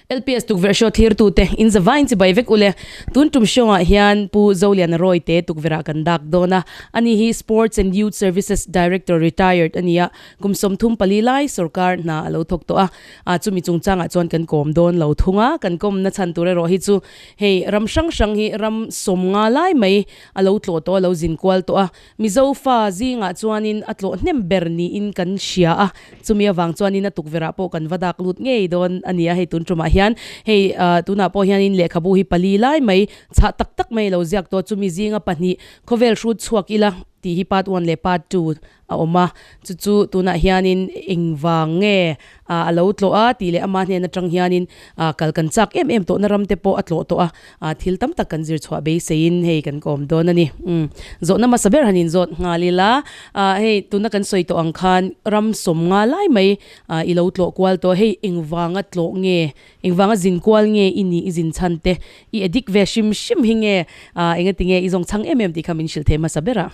LPS tukverh show thlirtute inzava inchibai vek u le. Tun tum show ah hian Pu Zoliana Roy te tukverh ah kan dak dawn a. Ani hi Sports and Youth Services Director Retired a ni a, kum sawm thum pali lai sorkar hna a lo thawk tawh a. A, chumi chungchangah chuan kan kawm dawn lo thung a, kan kawmna chhan tur erawh hi chu hei ram hrang hrang hi ram sawm nga lai mai a lo tlawh tawh a, a lo zin kual tawh a, Mizo fa zingah chuanin a tlawh hnem ber niin kan hria a, chumi avang chuanin a tukverhah pawh kan va dak lut ngei dawn a ni a, hei tun tumah hian hei tunah pawh hianin lehkhabu hi pali lai mai, chhah tak tak mai a lo ziak tawh a, chumi zinga pahnih khawvel hrut chhuak ila tih hi part one leh part two a awm a, chu chu tunah hianin engvang nge a a lo tlawh a tih leh ama hnen atang hianin a kal kan chak em em tawhna ram te pawh a tlawh tawh a, a thil tam tak kan zir chhuah beiseiin hei kan kawm dawn a ni. Umm zawh namasa ber han inzawt nghal ila a hei tuna kan sawi tawh ang khan ram sawm nga lai mai a i lo tlawh kual tawh hei engvanga tlawh nge engvanga zin kual nge i nih i zin chhan te i adik ve hrim hrim hi nge a engatinge i zawng chang em em tih kha min hrilh thei hmasa ber a.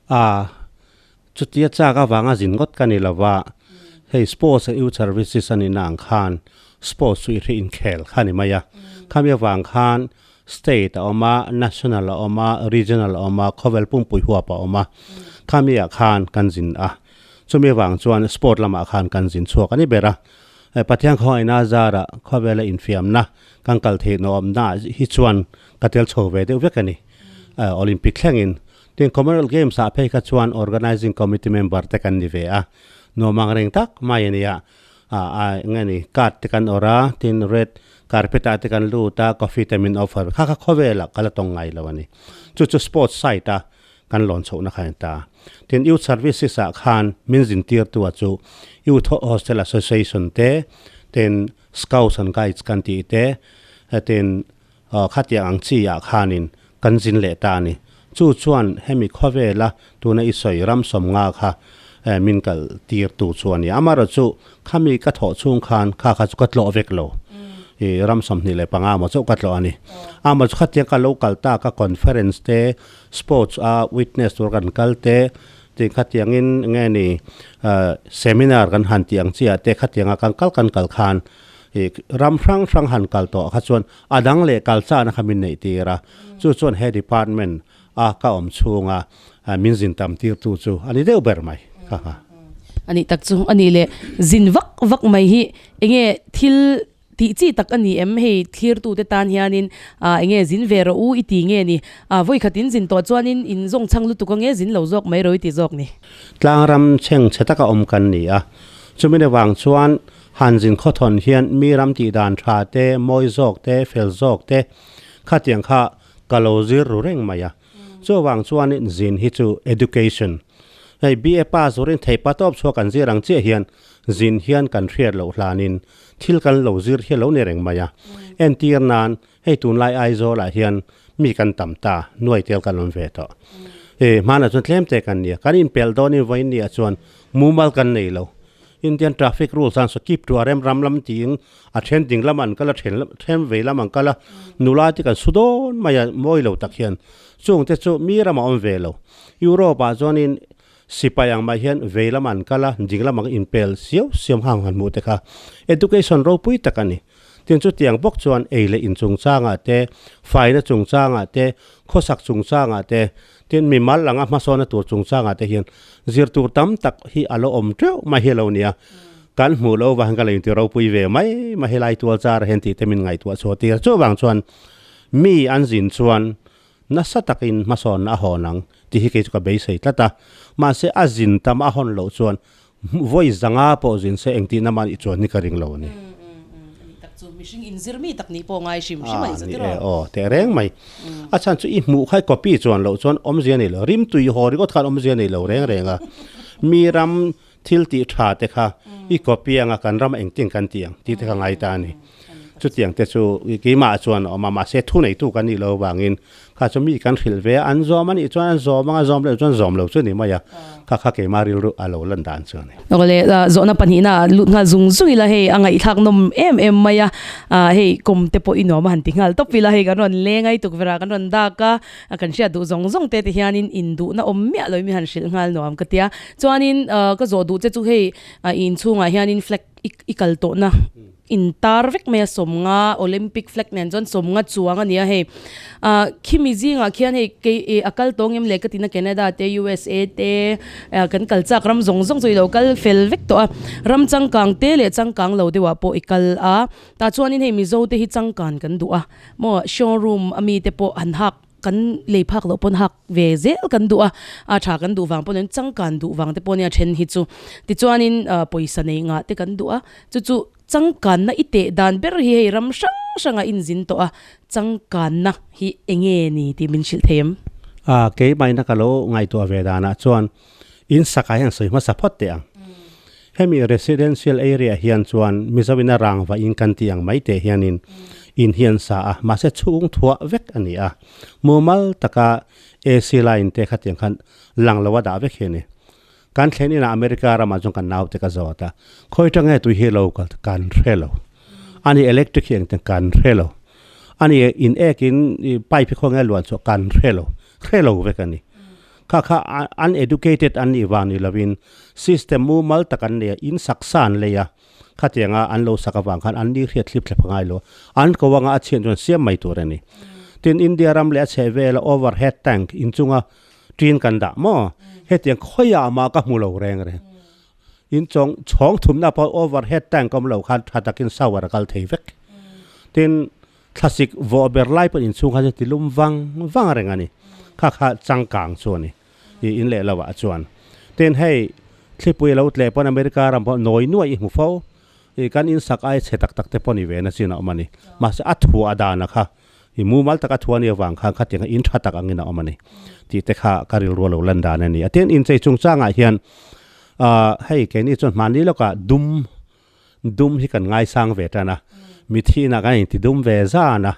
Aa, chutia chak avanga zin ngawt ka ni lova, hei sports a youth services a nina ang khan sports chu i hre inkhel kha ni mai a, khami avang khan state a awm a, national a awm a, regional a awm a, khawvel pumpui huapa a awm a, khami ah khan kan zin a, chumi avang chuan sport lamah khan kan zin chhuak a ni ber a, hei Pathian khawngaihna zara khawvela infiamna kan kal theih nawh awmna hi chuan ka tel chho ve deuh vek a ni, Olympic thlengin Tin, Commonwealth Games ah phei kha chuan Organising Committee member te kan ni ve a, nuam ang reng tak mai a nia, ah a eng nge ni card te kan awrh a, tin red carpet ah te kan lut a, coffee te min offer, kha kha khawvel ah ka la tawng ngai lo a ni, chu chu sports side a kan lawn chhoh na kha a ni ta, tin Youth Services ah khan min zin tir tu ah chu Youth Hostel Association te, tin Scouts and Guides kan tih te, tin. Aw, khatiang ang chi ah khanin kan zin leh ta a ni. Chu chuan hemi khawvela tuna i sawi ram sawmnga kha min kalh tir tu chu a ni. Amarawh chu khami ka thawh chhung khan kha kha chu ka tlawh vek lo. I ram sawmhnih leh panga amaw chu ka tlawh a ni. Amaw chu khatiang ka lo kal ta ka conference te, sports a witness tur kan kal te, tin khatiangin enge ni seminar kan han tih ang chiah te khatianga kan kal kan kal khan, Hi ram hrang hrang han kal tawh kha chuan a dang leh kal chana kha min neih tir a, chu chuan he department a ka awm chhunga min zin tam tir tu chu a ni deuh ber mai ka nga. A nih tak chu a nih leh, zin vak vak mai hi eng nge thil tih chi tak a ni em? Hei thlir tu te tan hian in ah eng nge zin ve rawh u i ti nge ni? Ah vawi khat in zin tawh chuan in in zawng chhang lutuk ange zin lo zawk mai rawh i ti zawk ni. Tlang ram chheng chhe tak a awm kan ni a, chumi ni vang chuan Han zin khawthawn hian mi ram tih dan tha te, mawi zawk te, fel zawk te kha tiang kha ka lo zir ru reng mai a. Chuvang chuanin zin hi chu education, hei BA pass zurin thei pa tawp chhuak kan zir ang chiah hian zin hian kan hriat loh hlanin thil kan lo zir hi a lo ni reng mai a. Entir nan hei tunlai Aizawlah hian mi kan tam ta, nuai tel kan awm ve tawh. Hei hmanah chuan tlemte kan nia, kan inpel dawnin vawiin nia chuan mumal kan nei lo. Indian traffic rules ah sa keep to a rem ram lam tiin a then ding lam ah an kal a, then then vei lam ah an kal a, nulai te kan su dawn mai a mawi lo tak hian chung te chu mi ram ah a awm ve lo. Europe ah chuan in sipai ang mah hian vei lam ah an kal a, ding lam ah an inpel siau siau ang han hmuh te kha education ropui tak a ni. Tin chutiang bawk chuan ei leh in chungchang ah te, faina chungchang ah te, khawsak chungchang ah te, Tin, mi mal anga hmasawnna tur chungchangah te hian zir tur tam tak hi a la awm teuh mai hi lo ni a, kan hmuh loh vang hian ka la inti ropui ve mai mai. Helai tualzar a hian tihte min ngaihtuah chhuah tir. Chuvang chuan mi an zin chuan nasa takin hmasawnna a hawn ang tih hi kei chu ka beisei tlat a. Mahse, a zin tam a hawn loh chuan Hmuh vawi zanga pawh zin se engtihna ama'n i chuan hi ka ring lo ni. Ani tak chu mihring inzir mi tak nih pawh ngai hrim hrim anih zawt iraw? Aw teh reng mai. A chhan chu i hmuh kha copy chuan loh chuan awmzia nei lo, rim tui haw ringawt khan awmzia nei lo reng reng a. Mi ram thil tih tha te kha i copy anga kan ram engtin kan tih ang tih te kha ngai ta a ni. Chutiang te chu keimah ah chuan a awm a, mahse thu neitu kan nih loh avangin kha chu mi kan hrilh ve a, an zawm a nih chuan an zawm ang a, zawm loh chuan zawm lo chu ni mai a, kha kha keimah rilru a lo lan dan chu a ni. Nawle zawhna pahnihna ah lut nghal zung zung ila hei a ngaihthlak nawm em em mai a, hei kawm te pawh i nuam a han ti nghal tawp ila hei kan rawn leng ai tukverh a kan rawn dak a, kan hriat duh zawng zawng te te hianin in duhna awm miah loin mi han hrilh nghal nuam ka tia, chuanin ka zawh duh che chu hei i inchhung ah hianin flag i kal tawh na, Intar vek mai a sawmnga Olympic flag nen chuan sawmnga chuang a ni a hei ah khimi zingah khian hei kei eh a kal tawng em le ka tina Canada te usa te ah kan kal chak ram zawng zawng chu i lo kal fel vek tawh a ram changkang te leh changkang lo deuhah pawh i kal a tah chuanin hei Mizo te hi changkan kan duh a maw showroom a mi te pawh han hak Kan lei phak loh pawn hak ve zel kan duh a, a tha kan duh vang pawh nen changkan duh vang te pawh nia then hi chu. Tichuanin pawisa nei ngah te kan duh a, chu chu changkanna i teh dan ber hi hei ram hrang hrangah inzin tawh a, changkanna hi enge ni tih min hrilh thei em? A, keimahna ka lo ngaihtuah ve danah chuan in sakah hian sawi hmasa phawt teh ang. Hemi residential area hian chuan Mizoin a rangva in kan tih ang mai teh hianin in hian sa a, mahse chhung thuah vek a ni a, mumal taka AC line te khatiang khan lang lo a dah vek hian i. Kan thlen inah America ramah chuan kan naute ka zawt a, khawi tange tui hi local te kan hre lo a ni, electric hi engtin kan hre lo a ni, in ek in pipe hi khawnge luan chhuah kan hre lo, hre lo vek a ni. Kha kha uneducated an nih vang ni lovin system mumal tak an nei a, in saksa an lei a, khatianga an lo sak avang khan an nihriat thlip thlep a ngailo. An ko anga a chhian chuan siam mai tur a ni. Tin, India ram leh a chhehvela overhead tank inchunga ṭin kan dah maw? Hetiang khawiah a mah ka hmu lo reng reng. In chawng, chhawng thumna pawh overhead tank awmlo khan ṭha takin shower a kal thei vek. Tin. Thlasik vaw a ber lai pawh inchhung kha chu ti lum vang vang a reng a ni. Kha kha changkang chu a ni. I in leh lohah chuan tin hei thlipui a lo tle pawn America ram pawh nawi nuai i hmu fo. I kan insak aia che tak tak te pawh ni ve na chin a awm a ni. Mahse a thu a dan a kha i mumal tak a thu a nia vang khan khatiang kha in tha tak angin a awm a ni tih te kha ka rilru a lo lan dan a ni. A tin inchei chungchangah hian aah hei keini chuan hmani lawkah dum, Dum hi kan ngaisang ve tan a, mithi inah kan inti dum ve zan a.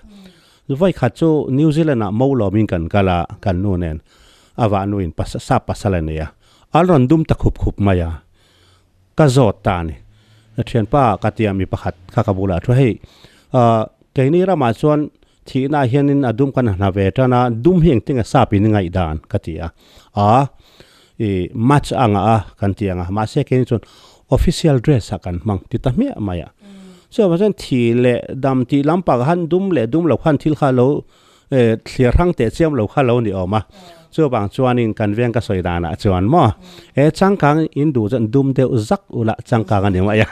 Voi khat chu New Zealand ah mo lawm in kan kal a, kan nu nen a vahnu in pasa sap pasal a ni a, an rawn dum ta khup khup mai a, ka zawt ta a ni. Thianpa ka ti a, mi pakhat kha ka bulah a thu hei keini ramah chuan thih inah hian in a dum kan hna ve tan a, dum hi engtinge sap in ngaih dan? ka ti a, a I match ang a kan ti ang a mahse keng chuan official dress ah kan hmang ti ta hmiah mai a chuvah chuan thi leh dam tih lampang han dum leh dum lo khan thil kha lo thlir hrang teh chiam lo kha lo ni awm a chuvang chuanin kan veng ka sawi dan ah chuan maw he changkang in duh chuan dum deuh zak ula changkang a ni mai a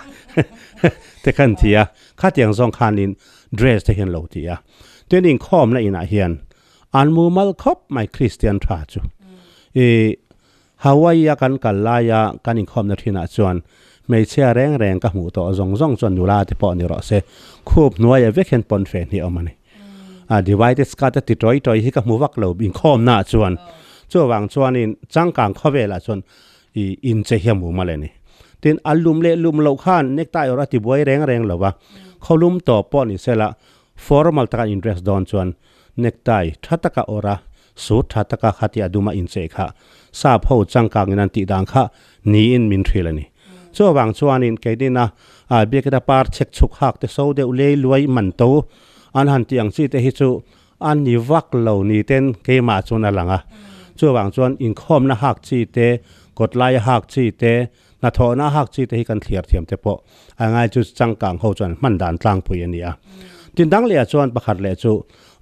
te khan ti a khatiang zawng khanin dress te hian lo ti a tunin khawmna inah hian An mumal khawp mai Kristian tha chu. I Hawaii a kan kal laia kan inkhawmna thinah chuan hmeichhia reng reng ka hmuh tawh zawng zawng chuan nula te pawh ni rawh se, khup hnuaia vek hian pawn fe hnih a awm a ni. A Divided Scott a ti tawi tawi hi ka hmu vak lo inkhawmnaah chuan. Chuvang chuanin changkang khawvelah chuan i inche hi a mum a le ni. Tin, a lum leh lum loh khan necktie erawh a tibuai reng reng lova, khawlum tawp pawh ni sela formal taka in dress dawn chuan Necktie tha taka awrh a, suit tha taka khati a dum a incheh kha sap ho changkangin an tih dan kha niin min hrilh a ni. Chu avang chuanin keinina aa biakina par chhek chhuk hak te so deuh lei luai man to an han tih ang chi te hi chu a ni vak lo ni ten keimah chuan a lang a. Chu avang chuan inkhawmna hak chi te, kawt laia hak chi te, Hnathawhna a hak chi te hi kan thliar thiam te pawh a ngai chu changkang ho chuan hman dan tlangpui a ni a. Tin dang leh ah chuan pakhat leh chu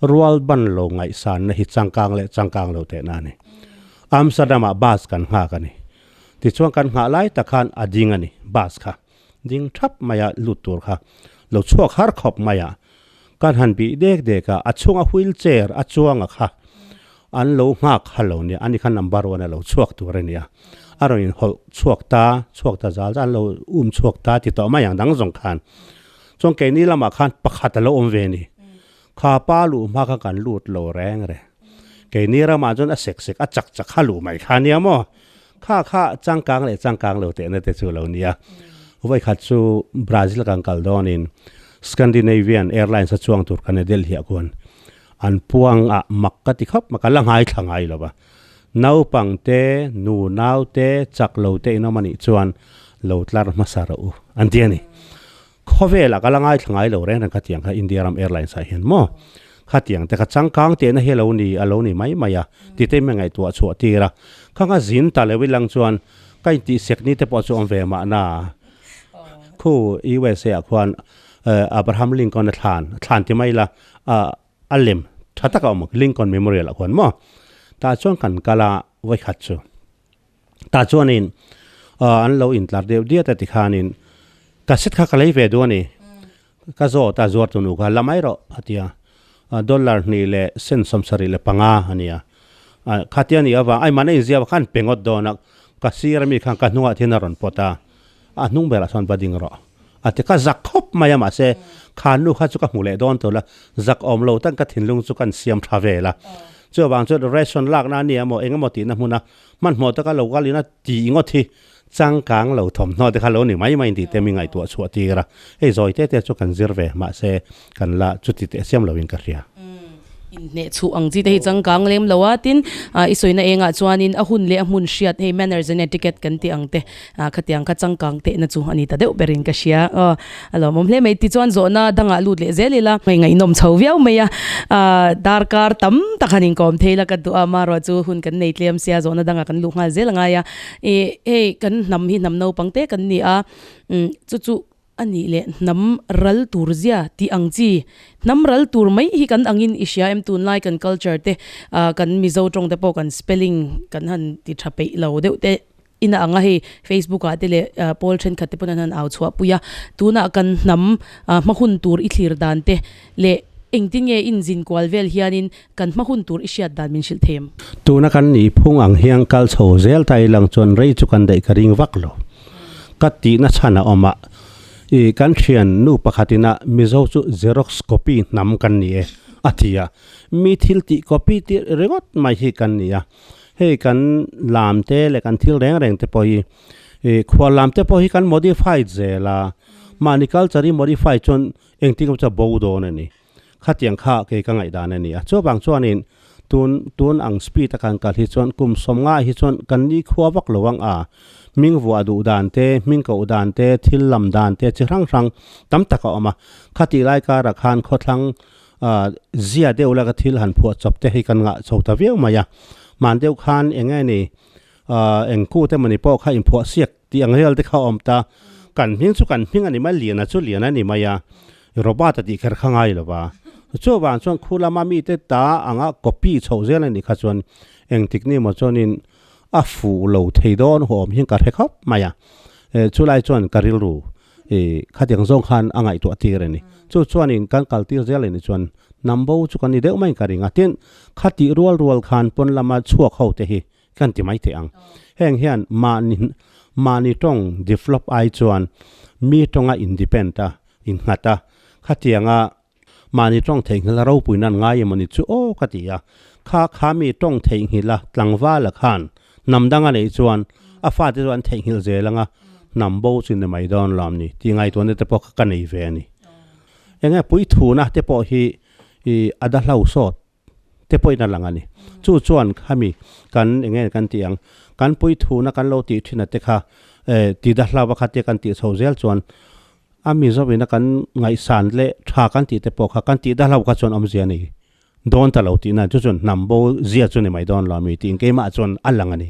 rual ban lo ngaihsanna hi changkang leh changkang lo tehna a ni. Amsterdam ah bus kan nghak a ni. Tichuan kan nghah lai tak khan a ding a ni bus kha. Ding thap mai a lut tur kha lo chhuak har khawp mai a. Ka hlan bih dek dek a, a chhunga wheel chair a chuanga kha an lo nghak ha lo nia, ani kha number one a lo chhuak tur a nia, a rawn in hawlh chhuak ta, chhuak ta zal zan an lo um chhuak ta ti tawh mai ang dang zawng khan, chuan keini lamah khan pakhat a lo awm ve ni, kha pa luh hma kha kan lut lo reng reng, keini ramah chuan a sek sek a chak chak ha luh mai kha nia maw. Kha kha changkang leh changkang lo tehna te chu lo ni a, vawikhat chu Brazil kan kal dawnin Scandinavian Airlines-a chuang tur ka ne Delhi-ah khuan an puanga mak ka ti khawp mai, ka la ngai thla ngai lo va. Naupang te, nu nau te, chak lo te in awm a nih chuan lo tlar hmasa rawh u, an ti a ni. Khawvel a ka la ngai thlangai lo reng reng khatiang kha India ram Airlines ah hian maw khatiang te kha changkang tehna hi a lo ni a lo ni mai mai a tite hmel ngaihtuah a chhuah tir a, kha nga zin ta lo i lang chuan ka intih sek ni te pawh chu awm ve mah na khu usa ah khuan Abraham Lincoln a thlan a thlan ti mai la a a lem tha tak a awm Lincoln Memorial ah khuan maw tah chuan kan kal a vawi khat chu. tah chuanin ah an lo intlar diau diat a tikhanin cassette kha ka lei ve duh a ni ka zawt a zuar tunu kha la mai rawh a ti a dollar hnih leh cent sawmsarih leh panga a ni a khati a ni avang ai mahna inziak khan pe ngawt dawn a ka sir ami khan ka hnungah thina rawn pawt a a hnung ber ah chuan va ding rawh a ti ka zak khawp mai a mahse khannu kha chu ka hmu leh dawn tawh la zak awm lo tan ka thinlung chu kan siam tha vel a chuvang chuan ration lakna a nia maw engemaw tihna hmuna Hmanhmawh taka lo gal in a ti ngawt hi changkang lo thawmhnaw te kha lo ni mai mai tih te mi ngaihtuah chu a tir a, hei zawi te te chu kan zir ve mahse kan la chuti teh siam lo in ka hria. Inhneh chhuh ang chi te hi changkang lem lo a, tin i sawina engah chuan in a hun leh a hmun hriat hei manners and etiquette kan tih ang te A khatiang kha changkang tehna chu a ni ta deuh ber in ka hria aw a lawmawm hle mai tichuan zawhna a dangah lut leh zel ila hei ngaihnawm chho viau mai a a darkar tam tak han inkawm thei ila ka duh a maruah chu hun kan nei tlem sia zawhna dangah kan luh nghal zel angai a i hei kan hnam hi hnam naupang te kan ni a umm chu chu a nih leh hnam ral tur zia tih ang chi. Hnam ral tur mai hi kan angin i hria em tunlai kan culture te ah kan Mizo tawng te pawh kan spelling kan han ti tha peih lo deuh te in a ang a hei Facebook ah te leh Pawl thenkhat te pawn an han au chhuah pui a tunah kan hnam ah hma hun tur i thlir dan te leh engtin nge in zin kual vel hianin Kan hma hun tur i hriat dan min hrilh thei em? Tuna kan nih phung ang hian kal chho zel ta i lang chuan rei chu kan daih ka ring vak lo. Ka tihna chhan a awm a, i kan thian nu pakhat in a Mizo chu Xerox copy hnam kan ni e a ti a. Mi thil tih copy tirh ringawt mai hi kan ni a. Hei kan lam te leh kan thil reng reng te pawh hi i khual lam te pawh hi kan modify zel a, mahni culture i modify chuan engtin ka hmu chu a bo dawn a ni. khatiang kha kei ka ngaih dan a ni a. Chuvang chuanin tun tun ang speed a kan kal hi chuan kum sawmnga hi chuan kan nikhua vak lo ang a, hming vuah duh dan te, hming koh dan te, thil lam dan te chi hrang hrang tam tak a awm a. Khati lai kar ah khan khawthlang zia deuh laka thil han phuah chawp te hi kan ngah chho ta viau mai a. Hman deuh khan eng nge ni A eng kut emawni pawh kha inphuahsiak tih ang rialte kha a awm ta. Kan hming chu kan hming a ni mai, liana chu liana a ni mai a, i Robert-a tih kher kha ngai lova. Chu avang chuan khu lama mite ta anga copy chhoh zel a nih kha chuan eng tikni maw chuanin a fuh lo thei dawn haw awm hian ka hre khawp mai a. Eh, chu lai chuan ka rilru i khatiang zawng khan a ngaihtuah tir a ni. Chu chuanin kan kal tir zel a nih chuan Nambo chu kan ni deuh maiin ka ring a. Tin, khatih rual rual khan pawn lama chhuak hote hi. kan ti maithei ang. Heng hian mahni mahni tawng develop ai chuan mi tawnga independ a innghat a, khatianga mahni tawng theihnghilha ropuina an ngai emawni chu aw ka ti a, kha kha mi tawng theihnghilha tlangvala khan hnam danga neih chuan a fate chu an theihnghilh zel anga hnam bo chu ni mai dawn lo ni tih ngaihtuahna te pawh kha ka nei ve a ni. Enge puithuna te pawh hi i a da hlo sawt te pawhin a lang a ni. Chu chuan khami kan eng nge kan tih ang, kan puithuhna kan lo tih thin ate kha eh tida hlau a kha te kan tih chho zel chuan a Mizo ina kan ngaihsan leh tha kan tih te pawh kha kan tih da hlau kha chuan awmzia nei dawn ta lo tihna chu chuan hnam bo zia chu ni mai dawn lo a mi tih engkeimah chuan a lang a ni.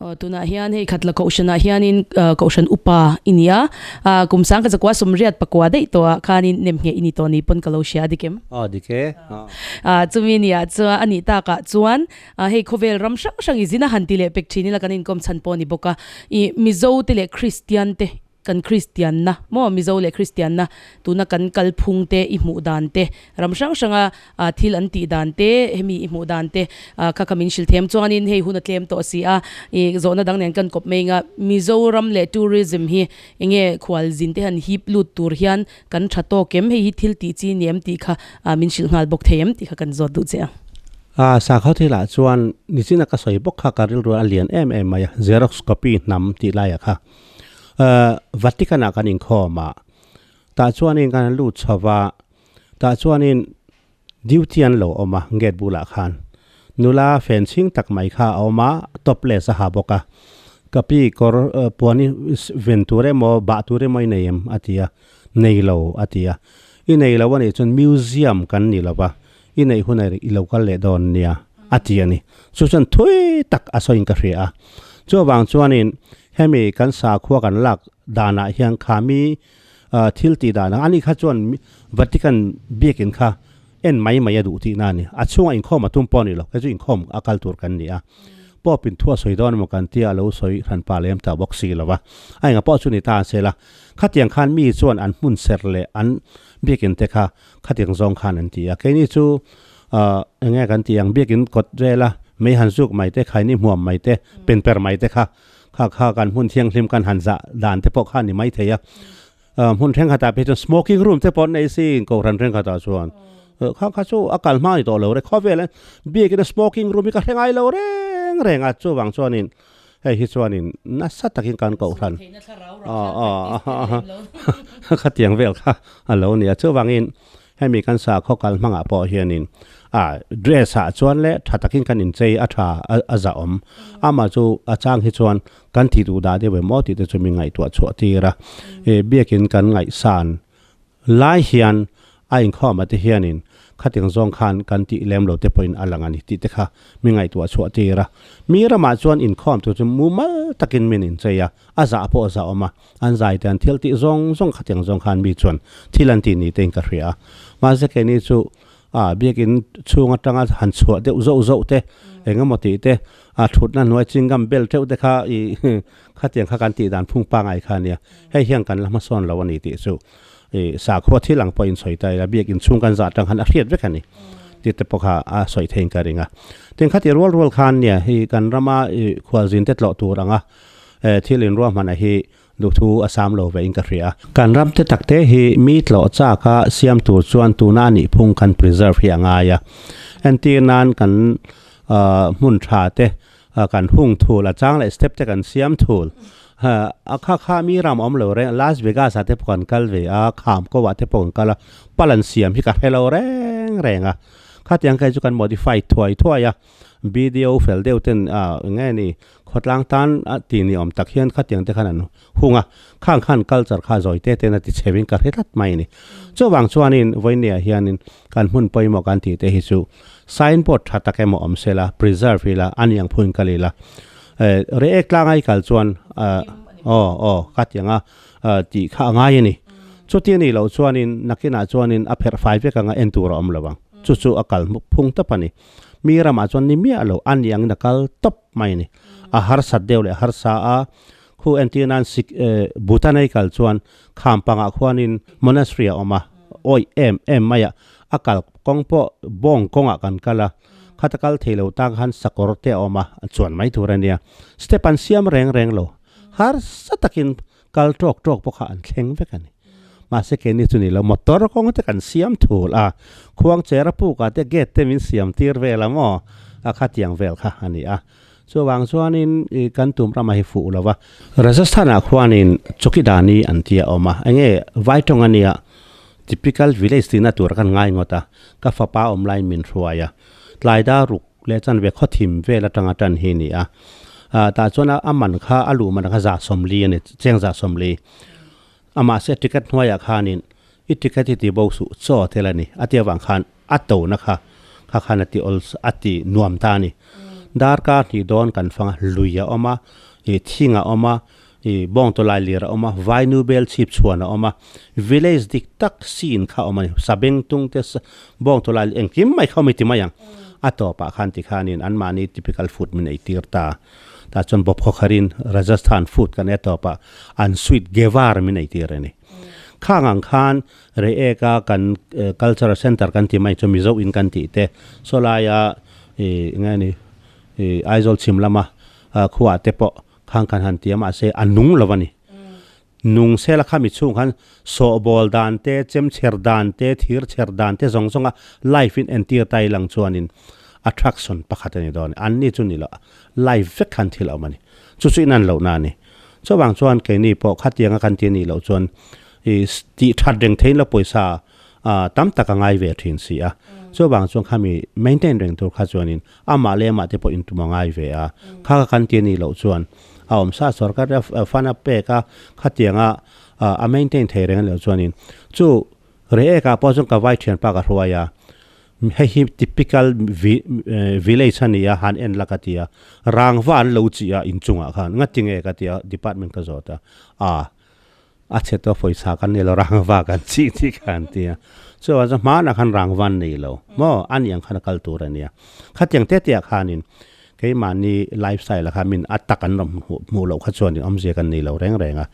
Tunah hian hei khat la kohhran ah hianin kohhran upa i ni a, kum sang ka chakua sumriat pakua daih tawh ah khanin nem ngheh i ni tawh ni pawn ka lo hria a dik em? A dik e. Chumi ni ah chuan a nih tak ah chuan hei khawvel ram hrang hrang i zin a han ti leh pek thin ila kan inkawm chhan pawh a ni bawk a, i Mizo te leh Kristian te Kan Kristianna, maw Mizo leh Kristianna, tuna kan kal phung te, i hmuh dan te, ram hrang hranga thil an tih dan te, hemi i hmuh dan te kha ka min hrilhthem chuangin hei huna tlem tawh si a, i zawhna dang nen kan kawp mai anga Mizoram leh Tourism hi eng nge khual zin te an hip lut tur hian kan tha tawk em, hei hi thil tih chi ni em tih kha min hrilh nghal bawk thei em tih kha kan zawt duh che ang. Sakhaw thil ah chuan nizin a ka sawi bawk kha ka rilru a lian em em mai a, Xerox copy hnam tih lai ah kha. Vatican ah kan inkhawm a, tah chuanin kan han lut chho va, tah chuanin duty an lo awm a gate bulah khan, nula fencing tak mai kha a awm a, topless a ha bawk a, ka pi kawr puan i ven tur emaw bah tur emaw i nei em a ti a, nei lo a ti a, i nei lo a nih chuan museum kan ni lova, I neih hunah i lo kal leh dawn nia a ti a ni. Chu chuan thui tak a sawiin ka hria a. Chu vang chuanin hemi kan sakhua kan lak danah hian khami thil tih dan ang ani kha chuan Vatican biakin kha en mai mai a duh tihna a ni. A chhunga inkhawm a tum pawh a ni lo. Kei chu inkhawm a kal tur kan ni a. Pope in thu a sawi dawn emaw kan tia a lo sawi hran pa lem ta bawk si lo va. A engah pawh chu ni ta an sel a. Khatiang khan mi chuan an hmun ser leh an biakin te kha Khatiang zawng khan an ti a, keini chu ahh eng nge kan tih ang biakin kawt vel a, mei han zuk mai te, khaini hmuam mai te, pen per mai te kha kha kha kan hmun thianghlim kan han zah dan te pawh kha a ni mai thei a. Ahh hmun thenkhatah pawh hi chuan smoking room te pawh an nei si kohhran thenkhatah chuan. Ahh kha kha chu a kal hma a ni tawh lo re, khawvel ah hian biakin a smoking room hi ka hre ngai lo reng reng a, chuvang chuanin Hei hi chuanin nasa takin kan koh hlan. Khatiang vel kha a lo ni a. Chuvangin hemi kan sakhaw kal hmangah pawh hianin dress-ah chuan le tha takin kan inchei a tha a za awm. Amah chu a chang hi chuan kan tih duhdah deuh em aw tih te chu min ngaihtuah chhuah tir a. Biakin kan ngaihsan. Lai hian a inkhawma te hianin khatiang zawng khan kan tih lem lo te pawhin a lang a ni tih te kha mi ngaihtuah a chhuah tir a. Mi ramah chuan inkhawm tur chu mumal takin min inchei a, a zah pawh zah awm a, an zaite an thil tih zawng zawng khatiang zawng khan mi chuan thil an ti ni tein ka hria a. Mahse kei ni chu a biakin chhung atanga han chhuah deuh zauh zauh te, engemaw tih te, a thutna hnuai chingam bel teuh te kha i Khatiang kha kan tih dan phung pangai kha nia, hei hian kan la hmasawn lo a ni tih chu i sakhaw thil ang pawhin sawi ta ila, biak inchhung kan zah atang khan a hriat vek a ni tih te pawh kha a sawi theihin ka ring a. Tin khati rual rual khan nia, hei kan rama i khual zin te tlawh tur anga e thil in ruahmanah hi duhthu a sam lo vein ka hria. Kan ram te tak te hi mi tlawh chak a siam tur chuan tuna a nih phung kan preserve hi a ngai a, entir nan kan hmun tha te, a kan hung thul a chang leh step te kan siam thul ha a kha kha mi ram awm lo reng Las Vegas ah te pawh kan kal ve a kham ko ah te pawh kan kal a pal an siam hi ka hre lo reng reng a khatiang kai chu kan modify thuai thuai a video fel deuh ten a eng nge ni khawtlang tan a ti ni awm tak hian khatiang te khan an Hung a, khang khan culture kha zawi te ten a ti chheu in ka hre tlat mai a ni. Chuvang chuan in vawinia hian in kan hmun pawimawh kan tih te hi chu sign board tha tak emaw awm se la preserve ila a niang phu in ka lih la eh re ek tlang ai kal chuan ah aw aw ka tiang a ah tih kha a ngai a ni. Chuti a nih loh chuan in nakin ah chuan in a pherh fai vek anga en tur a awm lo vang. Chu chu a kal hmuk phung tawp a ni. Mi ramah chuan ni miah lo a niang in a kal tawp. Hmai a ni. A harsat deuh leh a harsa a, khu entir nan Sikh e, Buddha nei kal chuan kham pangah khuanin Monastery a awm a, awih em em mai a, a kal kawng pawh bawng kawngah kan kal a, khat a kal thei lo tan khan sakawr te a awm a, a chuan mai tur a nia. Step an siam reng reng lo, harsa takin kal tawk tawk pawh kha an thleng vek a ni. Mahse ke ni chu ni lo, motor kawng te kan siam thul a, khuang chair a puk ah te gate te min siam tir vel ang aw, a khatiang vel kha a ni a. Chu avang chuanin ih kan tum ramah hi fuh lo va. Rajasthan ah khuanin chawkidani an tia awm a, enge vai tawng a nia, typical village tihna tur kan ngaingot a, ka fapa awm lai min hruai a, tlai da ruk leh chuan ve khawthim vel atang a tan hi a ni a, ah tah chuan a man kha a luh man kha zah sawmli a ni, cheng zah sawmli a mahse ticket hnuaiah khanin i ticket hi ti bo suh chaw tel a ni, a ti avang khan a tona kha kha khan a ti awl a ti nuam ta a ni, darkar hnih dawn kan fanga lui a awm a, ih thing a awm a, I bawngtaw lai lir a awm a, vainu bel chhip chhuan a awm a, village dik tak scene kha a awm a ni. Sabeng tung te bawngtaw lai engkim mai kha a awm a ni ti mai ang. A tawpah khan ti khanin an mahni typical food min eitir ta. Tah chuan bawp khawkharhin Rajasthan food kan e tawpah an sweet gewar min eitir a ni. Khang ang khan rei ek a kan cultural centre kan ti mai chu Mizo in kan tih te, saw laia i eng nge ni, i Aizawl chhim lama khuate pawh, Khang khan han tia mahse a nung lo a ni. Nung sela kha mi chhung khan sawhbawl dan te, chemchher dan te, thir chher dan te zawng zawnga life in entir ta ilang chuanin attraction pakhat a ni dawn a ni. Anni chu ni loh life vek khan thil a awm a ni. Chu chu inan lohna a ni. Chuvang chuan keini pawh khatianga kan ti a nih loh chuan i tih that reng theiin la pawisa tam tak a ngai ve thin si a. Chuvang chuan khami maintain reng tur kha chuanin Amah leh amah te pawh intum a ngai ve a, kha ka kan ti a nih loh chuan a awm sa a, sorkar te a fund a pek a, khatiang a a maintain thei reng loh chuanin chu reh ek ah pawh chuan ka vai thian pa ka hruai a, hei hi typical village a ni a han en la ka ti a, rangva an lo chih a inchungah khan ngatinge ka ti a department ka zawt a, a. A chhe tawh fawisa kan nei lo rangva kan chih tih kha an ti a, chuvah chuan hmanah khan rangva an nei lo maw? A ni ang khan a kal tur a nia. Khatiang te te ah khanin keimahni life style ah khan min a tak an rawn hmuh loh kha chuan awmzia kan nei lo reng reng a.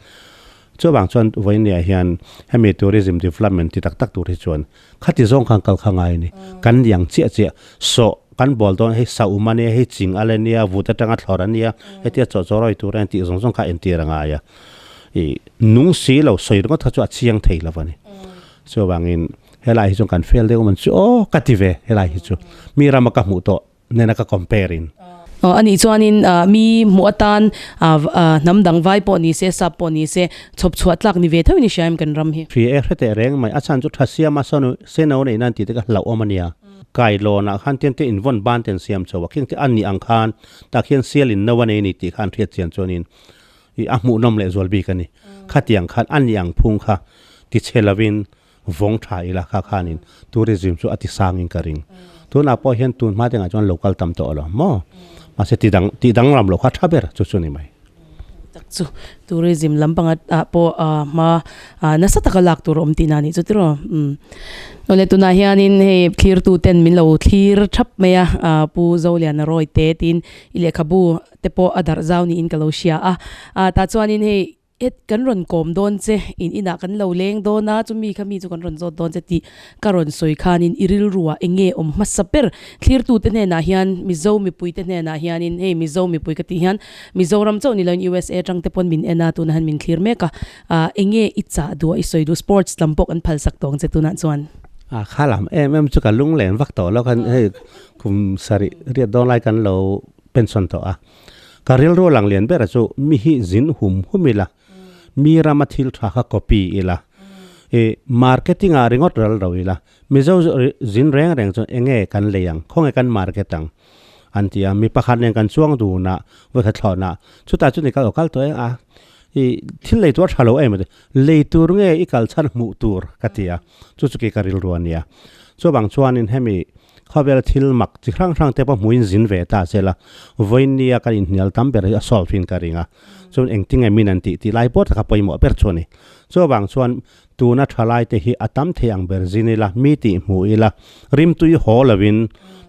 Chuvang chuan vawiin neih ah hian hemi tourism development ti tak tak tur hi chuan Khati zawng khan kal kha ngai a ni. Kan niang chiah chiah. Sawh, kan bawl dawn hei sa um a nia, hei ching alh a nia, vut atanga thlawrh a nia, hetia chaw chaw rawi tur a nia tih zawng zawng kha a entir a ngai a. I nung si lo, sawi ringawt kha chu a chiang thei lo a ni. Chuvangin helai hi chuan kan fel deuh man chu aw ka ti ve helai hi chu. Mi rama ka hmuh tawh nena ka compare in. Anih chuanin mi hmuh atan hnam dang vai pawh ni se, sap pawh ni se, chhawp chhuah tlak ni ve theuh ni sia em kan ram hi. Hri e hre teh reng mai, a chhan chu tha siam a sanu seno neihna an tihte ka hlauhawm ania. Kai lawnah khan tente invawn ban ten siam chho a, khengte an nih ang khan tah khian sialin no a nei ni tih kha an hriat chian chuanin a hmuhnawm leh zual bik ani. Khatiang khan an nih ang phung kha tichhe lovin vawng tha ila kha khanin tourism chu a ti sangin ka ring. Tunah pawh hian tun hma dingah chuan lo kal tam tawh alawm maw? Mahse ti dang tih dang ram lo kha tha ber chu chu ni mai. Tak chu tourism lam panga ah pawh a hma ah nasa taka lak tur awm tihna nih chu tiraw umm. Nawle tunah hianin hei thlir tu ten min lo thlir thap mai a ah Pu Zoliana Roy te tin i lehkhabu te pawh a darh zau niin ka lo hria a ah tah chuanin hei Ed, Kan rawn kawm dawn che, in inah kan lo leng dawn a, chumi kha mi chu kan rawn zawt dawn che tih ka rawn sawi khanin i rilruah eng nge awm hmasa ber. Thlirtute hnenah hian Mizo mipuite hnenah hianin hei Mizo mipui ka tih hian Mizoram chauh ni loin usa atangte pawn min en a, tuna hian min thlir mek a, ah eng nge i chah duh a, i sawi duh sports lam pawh kan phalsak tawng che tunah chuan. Ah kha lam em em chu ka lunglen vak tawh lo, kan hei kum sarih riat dawn lai kan lo pension tawh a. Ka rilru lang lian ber a chu mi hi zin hum hum ila, mi rama thil tha kha copy ila, i marketing ah ringawt ral ro ila, Mizo zin reng reng chuan enge kan lei ang, khawnge kan market ang an ti a, mi pakhat nen kan chuang dun a vawikhat thlawn a, chutah chuan i kal aw kal tawh e a, i thil lei tur a tha lo em, lei tur nge i kal chhan hmuh tur ka ti a, chu chu khi ka rilru a nia, chuvang chuan in hemi. khawvela thil mak chi hrang hrang te pawh hmuin zin ve ta sela vawinia kan inhnial tam ber hi a solve in ka ring a chuan engtin nge min an tih tih lai pawt kha pawimawh ber chu a ni chuvang chuan tuna tha lai te hi a tam thei ang ber zin ila mi tih hmuh ila rimtui haw lovin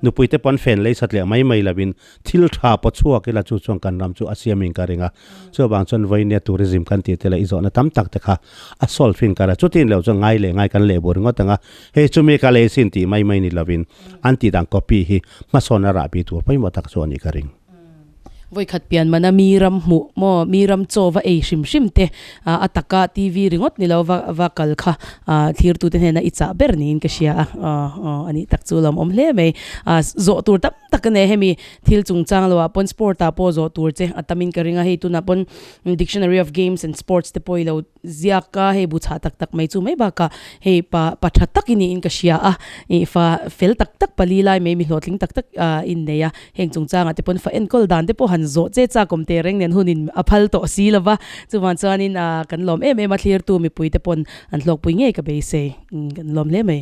nupui te pawh an fen leisat leh mai mai lovin Thil tha pawh chhuak ila chu chuan kan ram chu a siamin ka ring a, chuvang chuan vawine tourism kan tih te leh i zawhna tam tak te kha a solve fin ka ring a, chutin loh chuan ngai leh ngai kan lehbuai ringawt ang a, hei chu mi ka lei sin tih mai mai ni lovin an tih dan copy hi hmasawn a rah pi tur pawimawh tak chu a nih ka ring. Vawikhat pianmana mi ram hmuh maw, mi ram chaw va ei hrim hrim te a taka TV ringawt ni lo va kal kha thirtute hnena i chah ber niin ka hria a, a nih tak chu a lo awm hle mai, zawh tur tam-- tak a nei hemi thil chungchang lo ah pawn sport ah pawh zawh tur che a tam in ka ring a hei tunah pawn dictionary of games and sports te pawh i lo ziak a hei bu chhah tak tak mai chu mai bak ah hei pa pa tha tak i ni in ka hria a ih fa fel tak tak pali lai mai mi hlawhtling tak tak a in nei a heng chungchang ah te pawn fa enkawl dan te pawh han zawh che chak awm te reng nen hun in a phal tawh si lo va chuvang chuan in ah kan lawm em em a thlir tu mipui te pawn an hlawk pui ngei ka beisei kan lawm hle mai.